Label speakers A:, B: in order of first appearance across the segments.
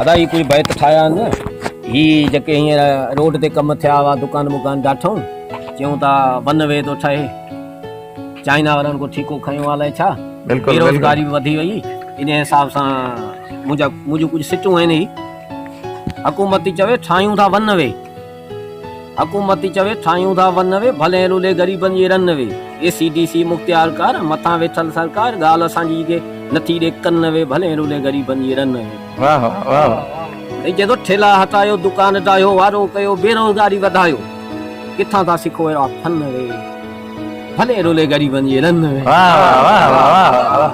A: ادا هي ڪجهه بيت ٺاهيا آهن نه هي جيڪي هينئر روڊ تي ڪم ٿيا هئا دڪان مڪان ڊاٺائون چيون ٿا ون وي ٿو ٺهي چائنا وارن ڪو ٺيڪو کنيو آهي الائي ڇا بيروزگاري به وڌي وئي ان حساب سان منهنجا منهنجون ڪجهه سٽون آهن هي حڪومت ٿي چوي ٺاهيون ٿا ون وي حڪومت چوي ٺاهيون ٿا ون وي، ڀلين رولي غريبن جي runway, A C D C مختيار ڪار، مٿان ويٺل سرڪار، ڳالهه اسان جي ڪي نٿي ڏي ڪن وي، ڀلين رولي غريبن جي رن وي. واهه
B: واهه واهه. هي چئي ٿو
A: ٺيلا هٽايو دڪان ڊاهيو، وارو ڪيو بيروزگاري وڌايو، ڪٿان ٿا سکو اهڙا فن وي، ڀلين رولي غريبن جي رن وي. واهه واهه واهه واهه واهه.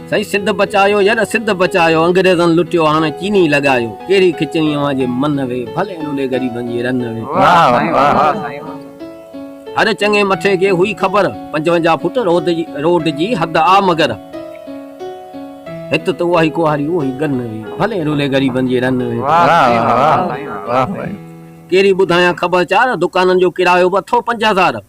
A: سائين سنڌ بچايو ير سنڌ بچايو انگريزن لٽيو هاڻي چيني لڳايو ڪهڙي کچڻي اوهان جي من وي ڀلي لولي غريبن جي رن وي واه سائين واه سائين هر چڱي مٺي کي هئي خبر پنجونجاهه فوٽ روڊ جي روڊ جي حد آ مگر هت ته اهي ڪوهاري اهي گن وي ڀلي لولي غريبن جي رن وي واه سائين واه سائين واه سائين ڪهڙي ٻڌايان خبر چار دڪانن جو ڪرايو به اٿو پنج هزار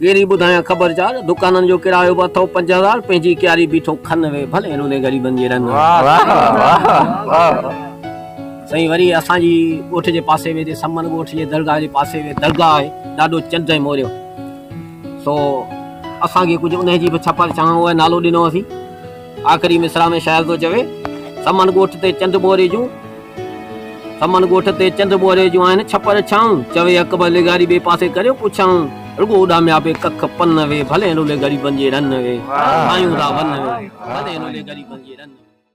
A: ڪيري ٻڌايان خبر چار دڪانن جو ڪرايو به اٿئو پنج هزار پنهنجي ڪياري بيٺو کن وي ڀلي روني غريبن جي رن سائين وري اسان جي ڳوٺ جي پاسي ۾ سمن ڳوٺ جي درگاهه جي پاسي ۾ درگاهه آهي ڏاڏو چنڊ ۽ موريو سو اسان کي ڪجهه انهي جي به ڇپر چانهه نالو ڏنو اٿي آخري مصرع ۾ شاعر ٿو چوي. سمن ڳوٺ تي چنڊ ٻوري جون. سمن ڳوٺ تي چنڊ ٻوري جون آهن ڇپر ڇانو. چوي اڪبر لغاري ٻئي پاسي ڪريو پڇانو. رڳو اڏاميا پئي ڪک پن وي. ڀلي رولي غريبن جي رن وي. ٺاهيون ٿا ون وي. ڀلي رولي غريبن جي رن وي.